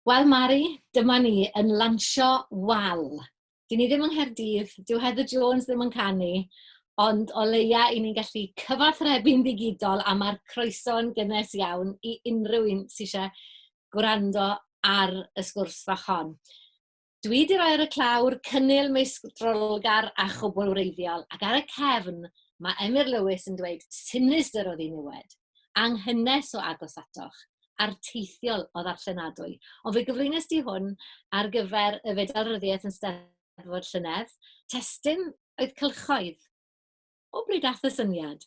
Wel Mari, dyma ni yn lansio wal. Dy'n ni ddim yng Nghaerdydd, dyw Heather Jones ddim yn canu, ond o leia 'y ni'n gallu cyfathrebu'n ddigidol a ma'r croeso'n gynnes iawn i unrhyw un sy isie gwrando ar y sgwrs fach hon. Dwi 'di rhoi ar y clawr cynnil meistrolgar a chwblwreiddiol, ac ar y cefn mae Emyr Lewis yn dweud sinistr o ddiniwed, anghynnes o agos atoch, arteithiol o ddarllenadwy. Ond fe gyflwynes di hwn ar gyfer y Fedal Ryddiaith yn Steddfod llynedd. Testun oedd cylchoedd. O bryd ath y syniad?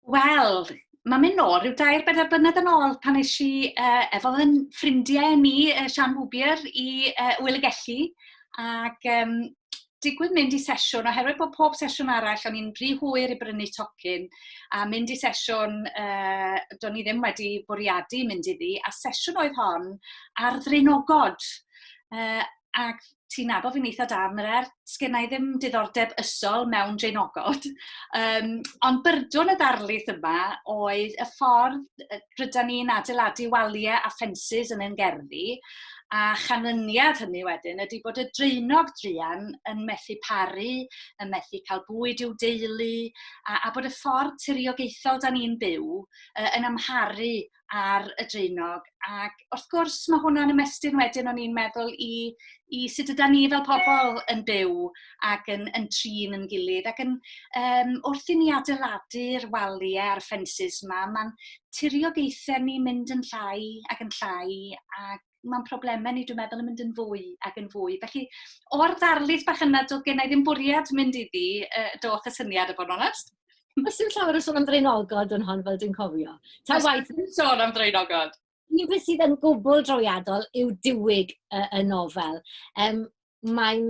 Wel, mae'n mynd nôl rhyw dair bedair blynedd yn ôl pan eis i uh, efo yn ffrindiau ni, uh, Sian Hwbier, i uh, Wyl y Gelli. Ac um, digwydd mynd i sesiwn, oherwydd bod pob sesiwn arall, o'n i'n rhy hwyr i brynu tocyn, a mynd i sesiwn, uh, do'n i ddim wedi bwriadu mynd iddi, a sesiwn oedd hon ar ddrinogod. Uh, ac ti'n nabod fi'n eitha da am yr er, sgennau ddim diddordeb ysol mewn dreinogod. Um, ond byrdwn y ddarlith yma oedd y ffordd rydyn ni'n adeiladu waliau a ffensys yn ein gerddi, a chanlyniad hynny wedyn ydy bod y dreinog druan yn methu paru, yn methu cael bwyd i'w deulu, a, a bod y ffordd tiriogaethol da ni'n byw uh, yn amharu ar y draenog. Ac wrth gwrs, mae hwnna'n ymestyn wedyn o'n i'n meddwl i, i sut yda ni fel pobl yn byw ac yn, yn trin yn gilydd. Ac yn, um, wrth i ni adeiladu'r waliau a'r ffensys yma, mae'n tiriogaethau ni mynd yn llai ac yn llai ac mae'n problemau ni, dwi'n meddwl, yn mynd yn fwy ac yn fwy. Felly, o'r ddarlith bach yna, doedd gennau ddim bwriad mynd iddi, uh, doth y syniad y bod yn onest. Os yw'n llawer o sôn am ddraenogod yn hon, fel dwi'n cofio. Ta waith... Os yw'n sôn am ddraenogod. Un beth sydd yn gwbl drawiadol yw diwyg y, y nofel. Um, mae'n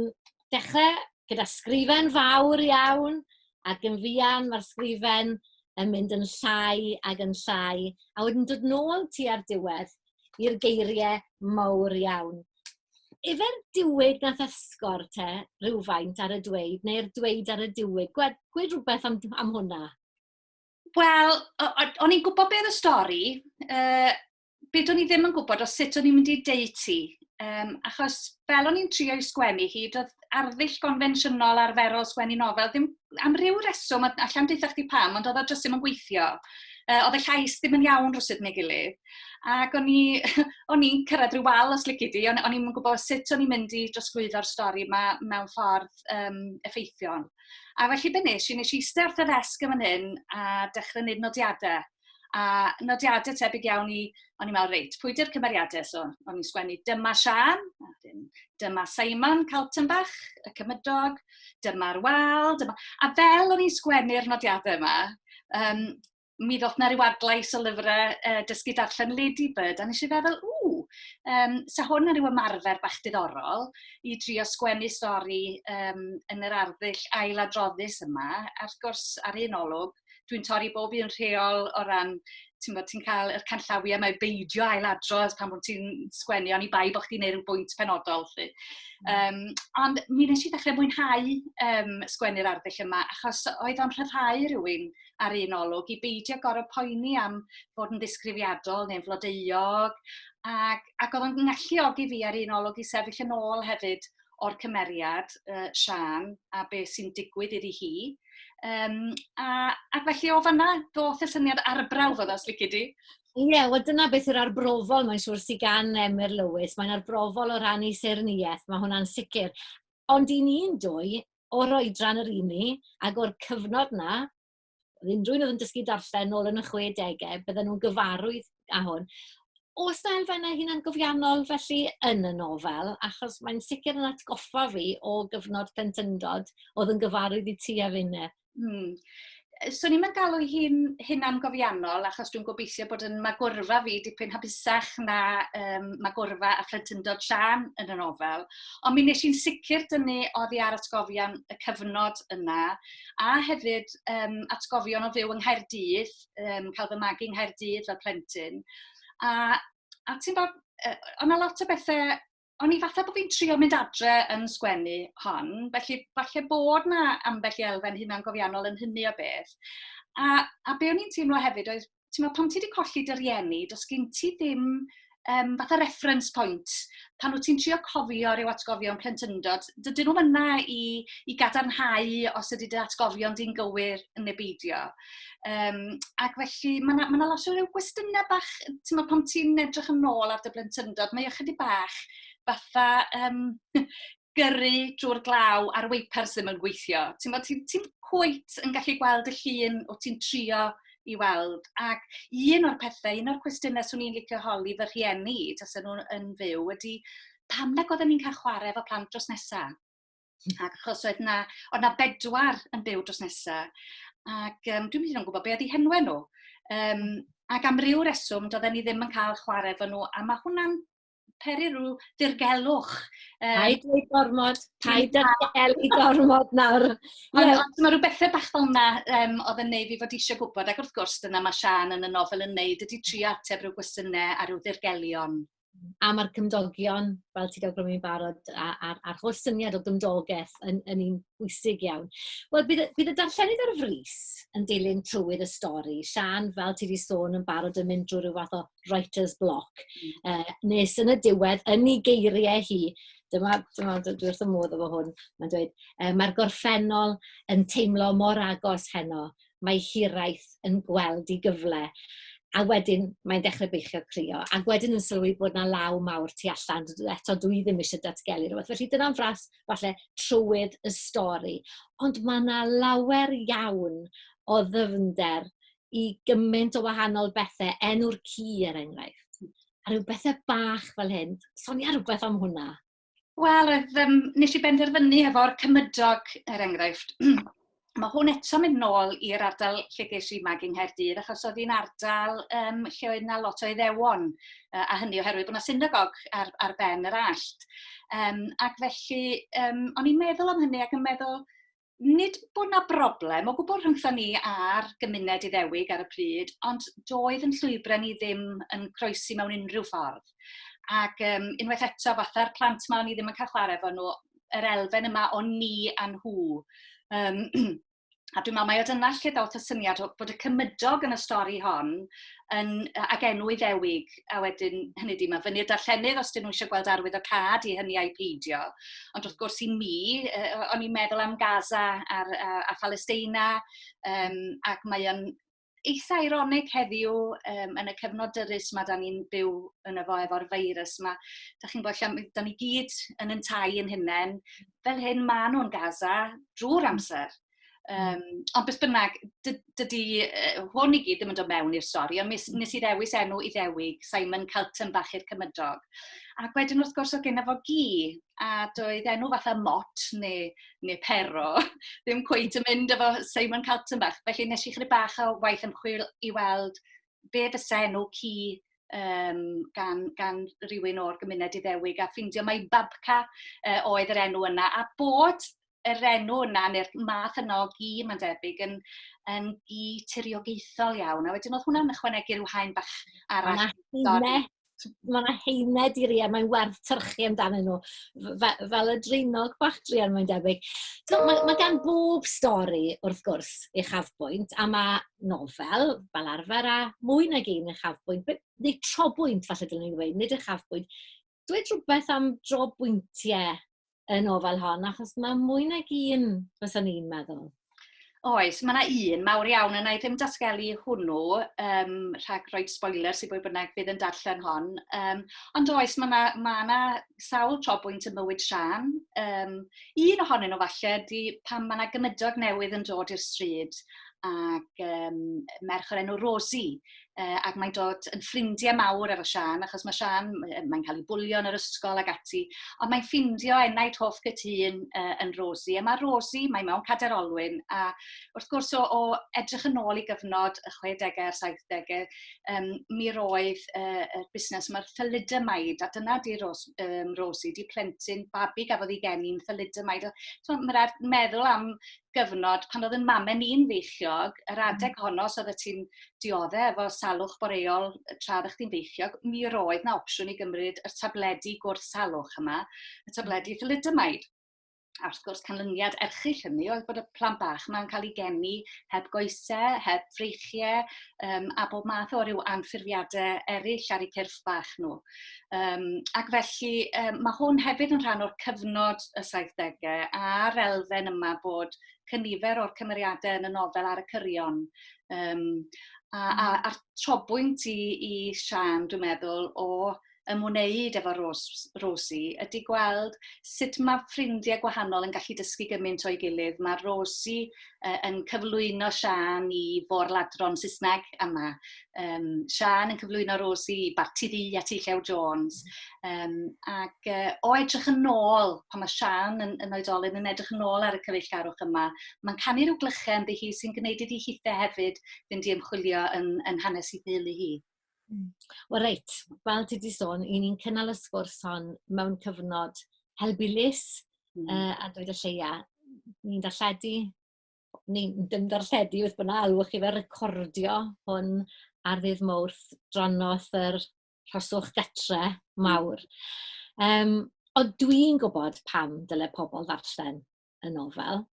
dechrau gyda sgrifen fawr iawn, ac yn fuan mae'r sgrifen yn mynd yn llai ac yn llai, a wedyn dod nôl tua'r diwedd i'r geiriau mawr iawn. Yfe'r diwyd nath esgor te rhywfaint ar y dweud, neu'r dweud ar y diwyd? Gwed, gwed rhywbeth am, am hwnna. Wel, o'n i'n gwybod beth y stori, uh, be do'n i ddim yn gwybod o sut o'n i'n mynd i deud ti. Um, achos fel o'n i'n trio i sgwennu hi, doedd arddull gonfensiynol arferol sgwennu nofel, ddim, am ryw reswm, allan dweitha chdi pam, ond oedd o jyst ddim yn gweithio. Uh, oedd y llais ddim yn iawn rhywsyd neu gilydd. Ac o'n i'n cyrraedd rhyw wal os lygu di, o'n i'n gwybod sut o'n i'n mynd i drosglwyddo'r stori yma mewn ffordd um, effeithiol. A felly be nes i, nes i eistedd wrth y ddesg yn fan hyn a dechrau wneud nodiadau. A nodiadau tebyg iawn i, o'n i'n meddwl, reit, pwy ydy'r cymeriadau? So, o'n i'n sgwennu dyma Sian, a wedyn dyma Simon Caltenbach, y cymydog, dyma'r wal, dyma... A fel o'n i'n sgwennu'r nodiadau yma, um, mi ddoth na ryw adlais o lyfrau uh, dysgu darllen Lady Bird, a nes i feddwl, ww, um, sa hwn yn rhyw ymarfer bach diddorol i drio sgwennu stori um, yn yr arddull ailadroddus yma, a'r gwrs ar un olwg, dwi'n torri bob un rheol o ran ti'n bod ti'n cael yr canllawiau mae beidio ail adrodd pan bod ti'n sgwennu ond i bai bod chdi'n neud rhyw bwynt penodol lly. Um, ond mi nes i ddechrau mwynhau um, sgwennu'r arddull yma achos oedd o'n rhyddhau rhywun ar un olwg i beidio gorau poeni am fod yn ddisgrifiadol neu'n flodeuog ac, ac oedd o'n galluogi fi ar un olwg i sefyll yn ôl hefyd o'r cymeriad, uh, Sian, a be sy'n digwydd iddi hi. Um, a, ac felly o fanna, doth y syniad arbrawf oedd os lici di. Ie, yeah, wel dyna beth yw'r arbrofol, mae'n siŵr sy'n gan Emyr Lewis. Mae'n arbrofol o ran ei serniaeth, mae hwnna'n sicr. Ond i ni'n dwy, o'r oedran yr un ni, ac o'r cyfnod na, oedd unrhyw un oedd yn dysgu darllen nôl yn y chwedegau, bydden nhw'n gyfarwydd â hwn. Oes 'na elfennau hunangofiannol felly yn y nofel? Achos mae'n sicr yn atgoffa fi o gyfnod plentyndod oedd yn gyfarwydd i ti a finne. Hmm. Swn i'n galw hi'n hunangofiannol achos dwi'n gobeithio bod yn magwrfa fi dipyn hapusach na um, magwrfa a phlentyndod Sian yn y nofel. Ond mi nes i'n sicr dynnu oddi ar atgofion y cyfnod yna a hefyd um, atgofion o fyw yng Nghaerdydd, um, cael fy magu yng Nghaerdydd fel plentyn. A, a ti'n bod, uh, o'n lot o bethau, o'n i fatha bod fi'n trio mynd adre yn sgwennu hon, felly falle bod na ambell i elfen hunan gofiannol yn hynny o beth. A, a be o'n i'n teimlo hefyd oedd ti'n meddwl, pan ti wedi colli dy rieni, does gen ti ddim um, fatha reference point. Pan wyt ti'n trio cofio rhyw atgofion plentyndod, dydyn nhw yna i, i gadarnhau os ydy dy atgofion di'n gywir yn ebeidio. Um, ac felly, mae yna ma lot o rhyw gwestiynau bach, ti'n meddwl, pan ti'n edrych yn ôl ar dy blentyndod, mae ychydig bach fatha um, gyrru drwy'r glaw a'r weipars ddim yn gweithio. Ti'n bod, ti'n ti cwyt yn gallu gweld y llun o ti'n trio i weld. Ac un o'r pethau, un o'r cwestiynau swn i'n licio holi fy rhieni, tas nhw'n yn fyw, ydy pam nag oedden ni'n cael chwarae efo plant dros nesaf? Hmm. Ac achos oedd na, oedd na bedwar yn byw dros nesaf, ac um, dwi'n mynd i'n gwybod beth ydy henwe nhw. Um, ac am ryw reswm, doedden ni ddim yn cael chwarae efo nhw, a mae hwnna'n peri rhyw dirgelwch. Um, paid ei gormod, paid â gelu gormod nawr. Ond yeah. mae rhyw bethau bach fel yna um, oedd yn neud fi fod eisiau gwybod, ac wrth gwrs dyna mae Sian yn y nofel yn neud, ydy tri ateb rhyw gwestiynau a rhyw ddirgelion. A mae'r cymdogion, fel ti'n cael i'n barod, a'r, ar holl syniad o gymdogaeth yn, yn un bwysig iawn. Wel, bydd, bydd y darllenydd ar frys yn dilyn trywydd y stori. Sian, fel ti wedi sôn, yn barod yn mynd drwy rhyw fath o writer's block. Uh, nes yn y diwedd, yn ei geiriau hi, dyma, dyma dwi wrth y modd efo hwn, mae'n dweud, uh, mae'r gorffennol yn teimlo mor agos heno, mae hiraeth yn gweld i gyfle. A wedyn mae'n dechrau beichio crio. A wedyn yn sylwi bod na law mawr tu allan. Eto dwi ddim eisiau datgelu rhywbeth. Felly dyna'n fras falle trywydd y stori. Ond mae na lawer iawn o ddyfnder i gymaint o wahanol bethe, enw'r ci er enghraifft, a rhyw bethe bach fel hyn. Sonia rhywbeth am hwnna? Wel, oedd, um, nes i benderfynu efo'r cymydog, er enghraifft. Mae hwn eto mynd nôl i'r ardal lle ges i mag yng Nghaerdydd, achos oedd hi'n ardal um, lle oedd yna lot o iddewon, uh, a hynny oherwydd bod yna synagog ar, ar ben yr allt. Um, ac felly, um, o'n i'n meddwl am hynny ac yn meddwl, nid bod 'na broblem o gwbl rhyngthon ni a'r gymuned Iddewig ar y pryd, ond doedd yn llwybrau ni ddim yn croesi mewn unrhyw ffordd. Ac um, unwaith eto, fatha'r plant ma o'n i ddim yn cael chwarae efo nhw, yr elfen yma o ni a nhw. Um, a dwi'n meddwl mae o dyna lle dawth y syniad bod y cymydog yn y stori hon yn, ac enw Iddewig a wedyn, hynny di, mae fyny'r darllenydd os dyn nhw eisiau gweld arwydd o cad i hynny a'i peidio. Ond wrth gwrs i mi, uh, o'n i'n meddwl am Gaza a'r, a, a Palesteina, um, ac mae o'n eitha ironig heddiw um, yn y cyfnod dyrus mae da ni'n byw yn y fo efo'r feirws yma. Da chi'n gwybod lle, da ni gyd yn yn tai yn hynny. Fel hyn, maen nhw'n Gaza drwy'r amser. Um, ond beth bynnag, dydy uh, hwn i gyd ddim yn dod mewn i'r stori, ond nes, hmm. nes i ddewis enw i ddewig Simon Calton bach i'r cymydog. Ac wedyn wrth gwrs o gen efo gi, a doedd enw fatha mot neu, neu pero, ddim cweith yn mynd efo Simon Calton bach. Felly nes i chyd bach o waith ymchwil i weld be fysa enw ci um, gan, gan rhywun o'r gymuned i ddewig a ffeindio mae Babca uh, oedd yr enw yna a bod yr enw yna neu'r math yna o gi mae'n debyg yn yn gi tiriogaethol iawn. A wedyn oedd hwnna'n ychwanegu rhyw haen bach arall. Mae yna heine diriau, mae'n werth tyrchu amdanyn nhw, fel, fel y dreinog bach drian mae'n debyg. So, mae, mae gan bob stori, wrth gwrs, ei chafbwynt, a mae nofel, fel arfer, a mwy nag un ei chafbwynt, neu trobwynt, falle dylwn i'n dweud, nid ei chafbwynt. Dweud rhywbeth am drobwyntiau y nofel hon, achos mae mwy nag un, fysa ni'n meddwl. Oes, mae yna un mawr iawn yna i ddim datgelu hwnnw um, rhag rhoi spoiler sy'n bwy bynnag fydd yn darllen hon. Um, ond oes, mae yna ma, na sawl tro bwynt yn mywyd Sian. Um, un ohonyn nhw falle di pan mae yna gymydog newydd yn dod i'r stryd ac um, merch o'r enw Rosie uh, ac mae'n dod yn ffrindiau mawr efo Sian, achos mae Sian, mae'n cael ei bwlio yn yr ysgol ag ati, ond mae'n ffindio enaid hoff gytun uh, yn Rosi, a mae Rosi, mae mewn cader olwyn, a wrth gwrs o, o edrych yn ôl i gyfnod y 60au a'r 70au, um, mi roedd uh, y busnes yma'r thalidymaid, a dyna di Ros, um, Rosi, di plentyn babi gafodd ei geni'n thalidymaid. So, mae'n rhaid meddwl am gyfnod pan oedd 'yn mame ni'n feichiog, yr hmm. adeg honno os oeddet ti'n diodde efo salwch boreol y tra oeddech chdi'n feichiog, mi roedd 'na opsiwn i gymryd y tabledi gwrth salwch yma, y hmm. tabledi thalidomide. A wrth gwrs, canlyniad erchyll hynny oedd bod y plant bach yma'n cael ei geni heb goesau, heb freichiau, um, a bob math o ryw anffurfiadau eraill ar eu cyrff bach nhw. Um, ac felly um, mae hwn hefyd yn rhan o'r cyfnod y 70au a'r elfen yma bod cynifer o'r cymeriadau yn y nofel ar y cyrion. Um, a, a, hmm. a'r trobwynt i, i Sian, dwi'n meddwl, o ymwneud efo Rose, Rosie ydy gweld sut mae ffrindiau gwahanol yn gallu dysgu gymaint o'i gilydd. Mae Rosie uh, yn cyflwyno Sian i fôr ladron Saesneg yma. um, Sian yn cyflwyno Rosi, Barti Ddi a Ti Llew Jones. Um, ac uh, o edrych yn ôl, pan mae Sian yn, yn oedolyn yn edrych yn ôl ar y cyfeillgarwch yma, mae'n canu rhyw glychau ynddi hi sy'n gwneud iddi hithau hefyd fynd i ymchwilio yn, yn hanes i ddeulu hi. Hmm. Wel reit, fel ti wedi sôn, i ni'n cynnal y sgwrs hon mewn cyfnod helbulus mm. uh, a dweud y lleia. Ni'n darlledu ni'n dim darlledu beth bynnag, alwch chi fe, recordio hwn ar ddydd Mawrth dros nos yr rhoswch gatre mawr. Um, ond dwi'n gwybod pam dyle pobl ddarllen y nofel,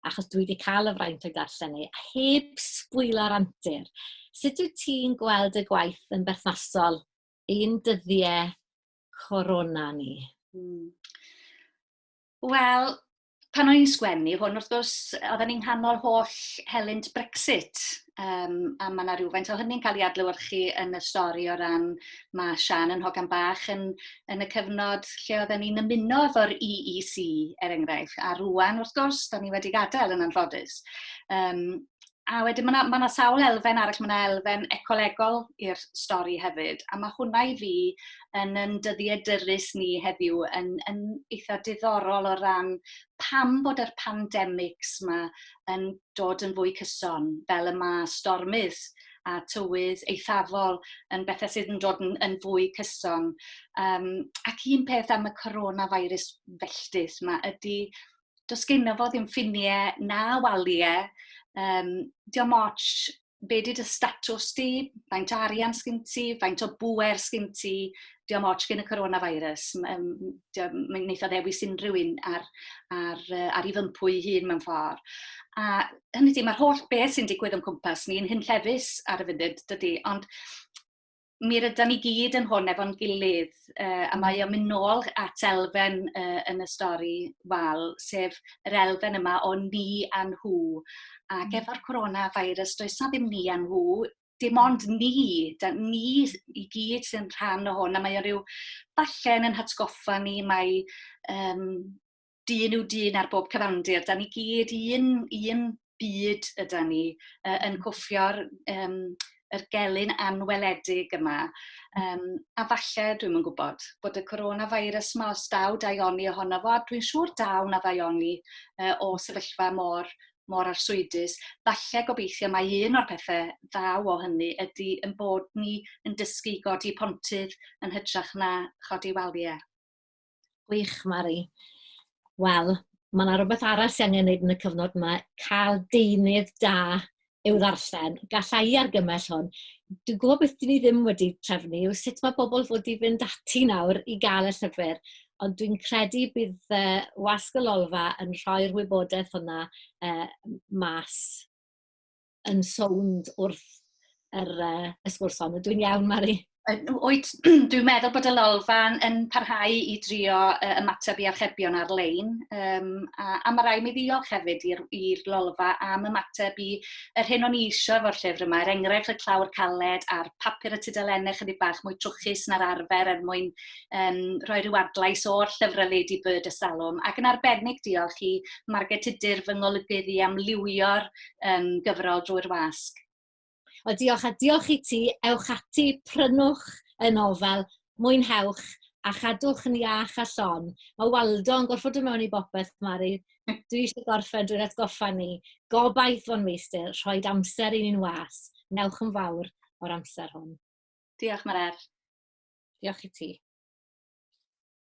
achos dwi wedi cael y fraint o'i darllen ei, a heb sbwylo'r antur. Sut wyt ti'n gweld y gwaith yn berthnasol i'n dyddiau corona ni? Hmm. Wel, pan o'n i'n sgwennu hwn, wrth gwrs, oedden ni'n nghanol holl helynt Brexit, um, a mae yna rhywfaint o hynny'n cael ei adlywyrchu yn y stori o ran mae Sian yn hogan bach yn, yn y cyfnod lle oedden ni'n ymuno efo'r EEC, er enghraifft, a rwan, wrth gwrs, da ni wedi gadael yn anffodus. Um, A wedyn mae yna ma sawl elfen arall, mae yna elfen ecolegol i'r stori hefyd, a mae hwnna i fi yn yn dyddiedurus ni heddiw yn, yn eitha diddorol o ran pam bod yr pandemics yma yn dod yn fwy cyson, fel y mae stormydd a tywydd eithafol yn bethau sydd yn dod yn, yn fwy cyson. Um, ac un peth am y coronavirus felltith yma ydy does genno fo ddim ffiniau na waliau. Um, diolch moch be di dy statws di, faint o arian sgyn ti, faint o bwer sgyn ti, diolch moch gen y coronavirus. Mae'n neitha o ddewis unrhyw un ar, ar, ar ei fympwy hun mewn ffordd. A hynny di, mae'r holl beth sy'n digwydd o'n cwmpas ni yn hyn llefus ar y funud, dydy. Ond mi rydan ni gyd yn hwn efo'n gilydd, uh, a mae o'n mynd nôl at elfen uh, yn y stori wal, sef yr elfen yma o ni a nhw. Ac mm. efo'r coronavirus, does na ddim ni a nhw, dim mm. ond ni, da, ni i gyd sy'n rhan o hwn, a mae o rhyw, falle yn hatgoffa ni, mae um, dyn yw dyn ar bob cyfandir. Da ni gyd un, un byd yda ni uh, yn cwffio'r um, yr gelyn anweledig yma. Um, a falle, dwi'm yn gwybod, bod y coronavirus yma, os daw daioni ohono fo, dwi'n siŵr daw na ddaioni uh, o sefyllfa mor, mor arswydus. Falle gobeithio mae un o'r pethau ddaw o hynny ydy yn bod ni yn dysgu godi pontydd yn hytrach na chodi waliau. Gwych, Mari. Wel, mae yna rhywbeth arall sy'n angen gwneud yn y cyfnod yma, cael deunydd da i'w ddarllen. Gallai i argymell hwn. Dwi'n gwybod beth dyn ni ddim wedi trefnu yw sut mae bobl fod i fynd ati nawr i gael y llyfr, ond dwi'n credu bydd uh, wasg y lolfa yn rhoi'r wybodaeth hwnna uh, mas. yn sownd wrth yr, uh, y sgwrs hon. Dwi'n iawn, Mari? Wyt, dwi'n meddwl bod y lolfa'n yn parhau i drio uh, ymateb i archebion ar-lein, um, a, a mae rai mi ddiolch hefyd i'r lolfa am ymateb i yr hyn o'n i eisiau efo'r llyfr yma, er enghraifft y clawr caled a'r papur y tudalennau chydig bach mwy trwchus na'r arfer er mwyn um, rhoi rhyw adlais o'r llyfrau Lady Bird y Salwm, ac yn arbennig diolch i Margaret Tudur fy ngolygydd i am liwio'r um, gyfrol drwy'r wasg. O, diolch, a diolch i ti. Ewch ati, prynwch y nofel, mwynhewch, a chadwch yn iach a llon. Mae Waldo yn gorfod dod mewn i bopeth, Mari. Dwi eisiau gorffen drwy'r atgoffa ni. Gobaith fo'n meistr, rhoi amser i ni'n was. Newch yn fawr o'r amser hwn. Diolch, Marer. Diolch i ti.